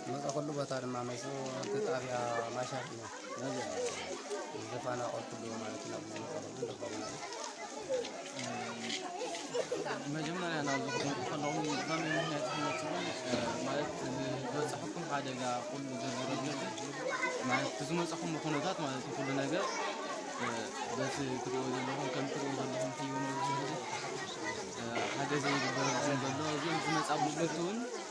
ዝመፀኹሉ ቦታ ድማ መፁ እቲ ጣብያ ማሻት እዩ ዝተፈናቀልኩሉ ማለት ናብ ዝመፀኹሉ ዝኸውን መጀመርያ ናብ ዝኹም ከለኹም ብኸመይ ምክንያት ዝመፅኹም ማለት ዝበፅሐኩም ሓደጋ ኩሉ ዝርዝረለኹ ማለት ብዝመፀኹም ኩነታት ማለት ኩሉ ነገር በቲ ትሪእዎ ዘለኹም ከም ትሪእዎ ዘለኹም ህይወት ሓገዘ ይግበረልኩም ዘሎ እዚኦም ዝመፃ ብሎት እውን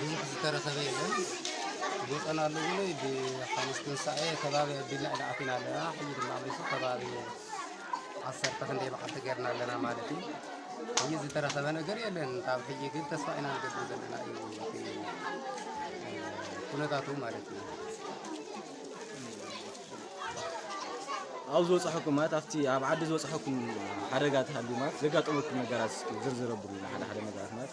ብዙሕ ዝተረኸበ የለን ጎጠና ኣሎ ብሎ ብሓሙስ ትንሳኤ ከባቢ ኣቢልና ኢና ኣቲና ኣለና ሕጂ ድማ ኣምሪሱ ከባቢ ዓሰርተ ክንደይ በዓልቲ ገርና ኣለና ማለት እዩ ሕጂ ዝተረኸበ ነገር የለን ካብ ሕጂ ግን ተስፋ ኢና ንገብር ዘለና እዩ ኩነታቱ ማለት እዩ ኣብ ዝበፅሐኩም ማለት ኣብቲ ኣብ ዓዲ ዝበፅሐኩም ሓደጋ ተሃልዩ ማለት ዘጋጠመኩም ነገራት እስኪ ዝርዝር ኣብሉና ሓደ ሓደ ነገራት ማለት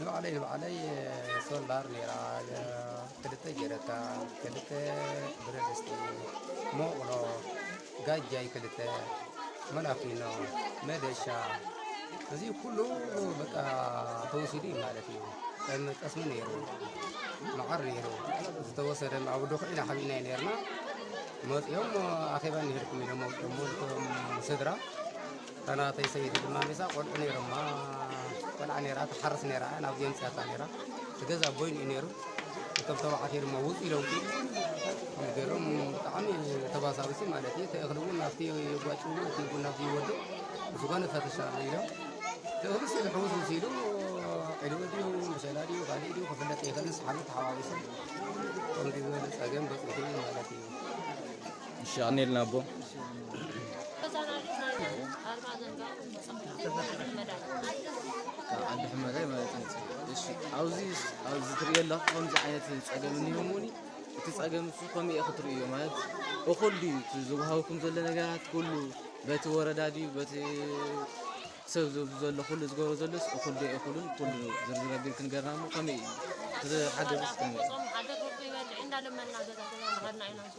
ንባዕለይ ንባዕለይ ሶላር ኔራ ክልተ ጀረካን ክልተ ብረድስቲ ሞቕሎ ጋጃይ ክልተ መላፊኖ መደሻ እዚ ኩሉ በቃ ተወሲዱ እዩ ማለት እዩ ጠም- ጠስሚ ነይሩ መዓር ነይሩ ዝተወሰደ ኣብ ዶኽዒ ኢና ሓቢእናዮ ነርና መፅኦም ኣኼባ እንሄድኩም ኢሎም ወፅኦም ስድራ እታ ናተይ ሰበይቲ ድማ ሚዛ ቆልዑ ነይሮማ ቆልዓ ነይራ ትሓርስ ነይራ እያ ናብዚ የምፅኣታ ነይራ እቲ ገዛ ቦይኑ እዩ ነይሩ እቶም ተባዕትዮ ድማ ውፅ ኢሎም ገሎም ብጣዕሚ ተባሳብሲ ማለት እዩ እቲ እኽሊ እውን ናብቲ የጓጭዎ እቲ እውን ናብዚ ይወድቕ ዝኾነ ፈተሻ ኢሎም እቲ እኽሊ ሲሉ ሕውስ ምስ ኢሉ ዒልዎ ድዩ ምሸላ ድዩ ካልእ ድዩ ክፍለጥ ይኽእል ንስሓሉ ተሓዋዊሶም ከምዚ ዝበለ ፀገም በፂሑ ማለት እዩ ሸቕኒልና ኣቦ ዓዲ ሕመዳይ ማለት ኣብዚ ኣብዚ ትሪኦ ኣለኹ ከምዚ ዓይነት ፀገም እኒሆምኒ እቲ ፀገም እሱ ከመይ ኢኹ ትርእዮ ማለት እኹል ድዩ እቲ ዝወሃበኩም ዘሎ ነገራት ኩሉ በቲ ወረዳ ድዩ በቲ ሰብ ዝብሉ ዘሎ ኩሉ ዝገብሮ ዘሎስ እኹል ዶ እኹልን ኩሉ ዝርዝር ኣቢል ክንገርና እሞ ከመይ እዩ እቲ ሓገዝስ ከመይ እዩ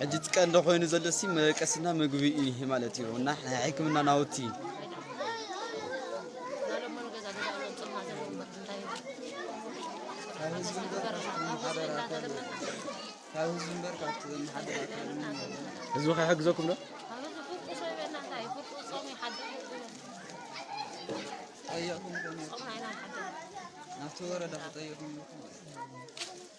ሕጂ እቲ ቀንዲ ኮይኑ ዘሎሲ መደቀስና ምግቢ እዩ ማለት እዩ እና ናይ ሕክምና ናውቲ ህዝቢ ከይሕግዘኩም ዶ ጠየቕኩም ናብቲ ወረዳ ክጠየቕኩም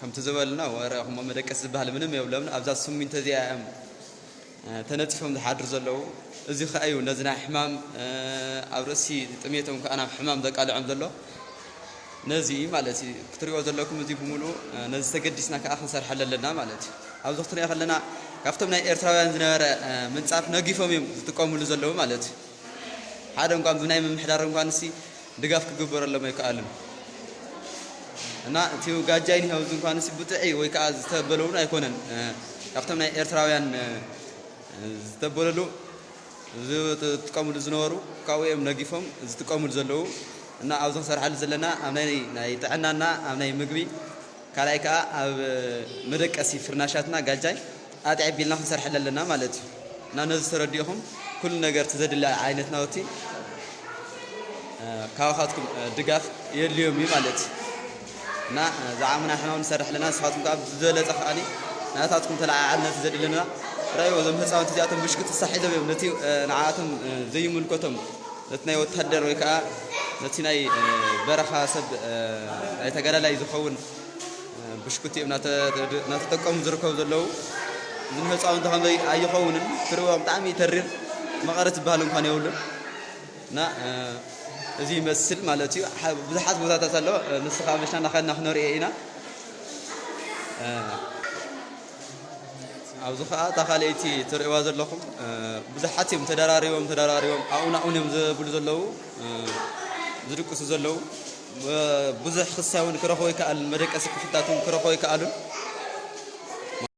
ከምቲ ዝበልና ወረ ክሞ መደቀሲ ዝበሃል ምንም የብሎም ኣብዛ ስሚንቶ እዚኣ እዮም ተነፂፎም ዝሓድሩ ዘለዉ እዚ ከዓ እዩ ነዚ ናይ ሕማም ኣብ ርእሲ ጥሜቶም ከዓ ናብ ሕማም ዘቃልዖም ዘሎ ነዚ ማለት እዩ ክትሪኦ ዘለኩም እዚ ብምሉ ነዚ ተገዲስና ከዓ ክንሰርሐለ ኣለና ማለት እዩ ኣብዚ ክትሪኦ ከለና ካብቶም ናይ ኤርትራውያን ዝነበረ ምንፃፍ ነጊፎም እዮም ዝጥቀምሉ ዘለዉ ማለት እዩ ሓደ እንኳን ብናይ ምምሕዳር እንኳን እሲ ድጋፍ ክግበረሎም ኣይከኣልን እና እቲ ጋጃይ ኒሀው ዝንኳን ሲ ብጥዒ ወይ ከዓ ዝተበለውን ኣይኮነን ካብቶም ናይ ኤርትራውያን ዝተበለሉ ዝጥቀሙሉ ዝነበሩ ካብኡ እዮም ነጊፎም ዝጥቀሙሉ ዘለዉ እና ኣብዚ ክሰርሓሉ ዘለና ኣብ ናይ ናይ ጥዕናና ኣብ ናይ ምግቢ ካልኣይ ከዓ ኣብ መደቀሲ ፍርናሻትና ጋጃይ ኣትዒብ ቢልና ክንሰርሐላ ኣለና ማለት እዩ እና ነዚ ተረዲእኹም ኩሉ ነገር እቲ ዘድሊ ዓይነት ናውቲ ካባኻትኩም ድጋፍ የድልዮም እዩ ማለት እዩ እና ዝዓሙና ሕና እውን ንሰርሕ ኣለና ንስኻትኩም ከዓ ብዝበለፀ ከዓኒ ናታትኩም ተለዓዓል ነቲ ዘድለና ራእይዎ እዞም ህፃውንቲ እዚኣቶም ብሽክቲ ሳሒሎም እዮም ነቲ ንዓኣቶም ዘይምልከቶም ነቲ ናይ ወታደር ወይ ከዓ ነቲ ናይ በረኻ ሰብ ናይ ተጋዳላይ ዝኸውን ብሽኩቲ እዮም ናተጠቀሙ ዝርከቡ ዘለዉ ንህፃውንቲ ከመይ ኣይኸውንን ክርእዎም ብጣዕሚ ይተርር መቐረት ዝበሃል እንኳን የብሉን እና እዚ ይመስል ማለት እዩ ብዙሓት ቦታታት ኣሎ ንስኻ መሽና ናኸልና ክነሪኦ ኢና ኣብዚ ከዓ እታ ካልኣይቲ ትርእዋ ዘለኹም ብዙሓት እዮም ተደራሪቦም ተደራሪቦም ኣብኡ ናብኡን እዮም ዘብሉ ዘለዉ ዝድቅሱ ዘለዉ ብዙሕ ክሳይ'ውን ክረኽቡ ኣይከኣሉን፣ መደቀሲ ክፍልታት እውን ክረኽቡ ኣይከኣሉን።